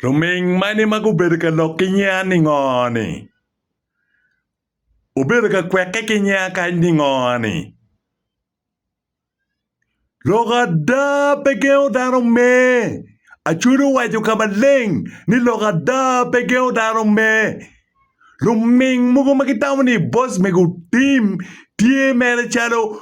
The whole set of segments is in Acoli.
Luming mani ma gubedo ka lok ki nyiya ningo-ni? Wubedo ka kwekke ki nyiya kany ningo-ni? Lok ada pe gengo dano me. Acwali owaco ka maleng ni lok ada pe gengo dano me. Luming mogo ma gitamo ni boss mego otim tye mere calo.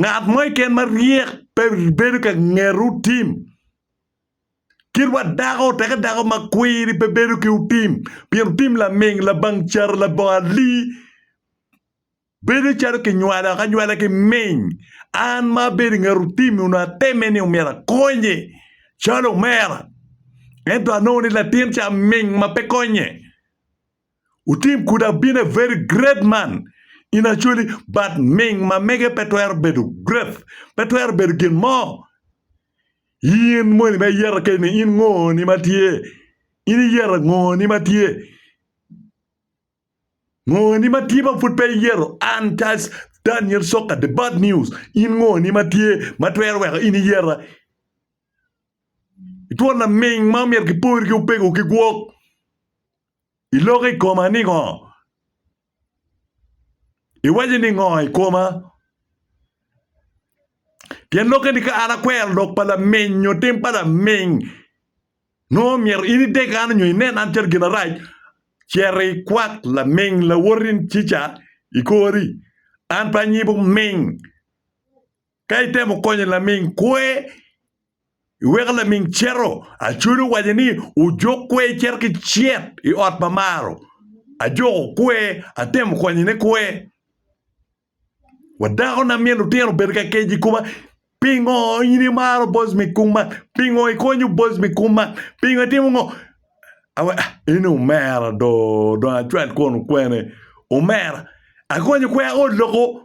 Ngat mo keken ma ryek pe bedo ka nget otim. Kit wa dako teke dako ma kwiri pe bedo ki otim pien otim laming labang car labongo ali bedo calo ki nywalo ki anywala ki ming an ma abedo i nget otim ni onongo ateme ni myero akonye calo omera ento anongo ni latin ca ming ma pe konye. Utim could have been a very great man in actually but ming ma mege pe twero bedo great, pe twero bedo gin mo. In moni ma iyeta keni ni in ngo ni ma tye? In iyeta ngo ni ma tye? Ngo ni ma tye ma pud pe iyero an Charles Daniel Soka the bad news in ngo ni ma tye ma twero weko in iyeta? Itwona ming ma omyero ki pori ki opego ki gwok. Iloko i koma ningo? Iwaco ningo i koma? Pien lokke ni ka an akwero lok pa laminy nyo tim pa laminy, nongo myero in ideg an nyo inen an calo gin arac, cito ikwak laminy lawoti cica i kori, an pe anyibo miny. Ka itemo konyo laming kwer, iweko laming cito. Acwele owaco ni, Ojok kwer icit ki cit i ot pa Maro. Ajoko kwer, atemo konyone kwer. Wa dakona min lutino obedo ka keco i koma, Pingo in imaro boc me kum man? Pingo ikonyo boc me kum man? Pingo itimo ngo? A we, in i omera do, dong acwal kwon okwene. Omera, akonyo kwer aol loko.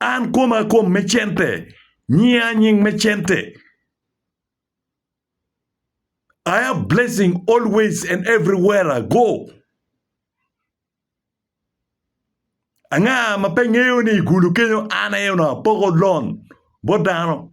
An koma kom me cente, nyinga nying me cente. I have blessing always and everywhere I go. Anga ma pe ngeyo ni i gulu kenyo an aye onongo apoko lon bot dano.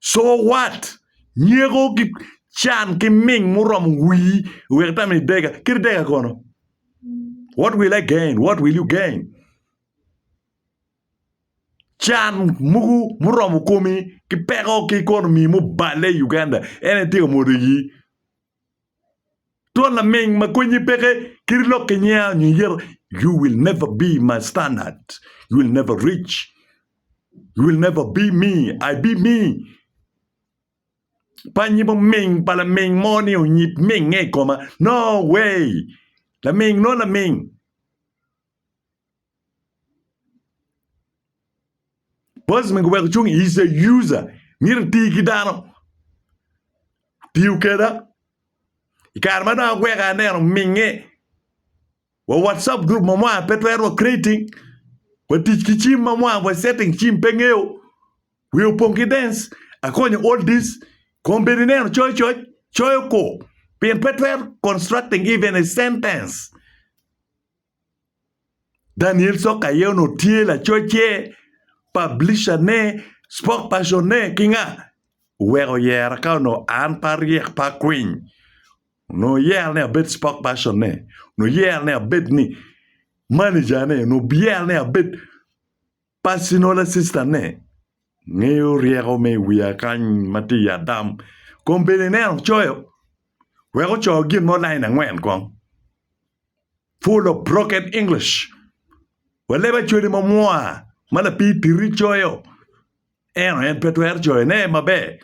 So what? Nyeko ki can ki ming muromo wii wek itame i dega. Kit dega kono? What will I gain? What will you gain? Can muku muromo komi ki peko ki ekonomi muballe i Uganda en aye tye ka mwodo ii. Twon laming ma konyi peke kit lok ki nyiya nyo iyero you will never be my standard, you will never reach, you will never be me, I be me. Panyi mo ming pa laming mo ni onyib minge i koma no way laming nongo laming. Bos mege wek ocung is a user myero iti ki dano tiyo keda i kare ma dong agweko aye aneno minge wa watcap group ma mwaka pe twero wa creating watic ki cim ma mwaka wa setting cim pe ngeyo wiya opong ki dens akonyo all this kong bedi neno coyo coc coyo kor pien pe twero constructing even a sentence. Daniel Soka aye onongo tye lacocce, publisher-ne, spokesperson-ne ki nga? Oweko oyera ka onongo an pe aryek pe akwiny onongo oyera ni abed spokesperson-ne, onongo oyera ni abed ni manager-ne, onongo oyera ni abed Pacino lasistane ngeyo ryeko me i wiya kany ma tye i Adam kun bene ineno coyo wek ocoyo gin mo lain angwen kong. Full of broken English. Wa leb acwali ma mwa ma lapii titi coyo eno en pe twero coyone maber.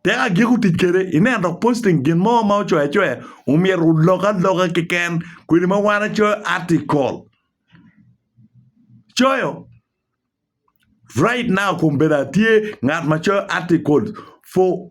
Tek agiko tic kwede ineno dok posting gin mo ma ocoyo acoya omyero olok aloka keken kodi ma wan wacoyo article coyo right now kombedda tye ngat ma coyo article for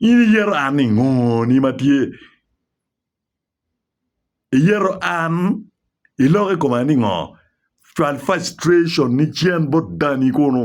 In iyeto an ni ngo ni ma tye iyeto an iloko i koma ni ngo cwal frustration ni cen bot dani kunu.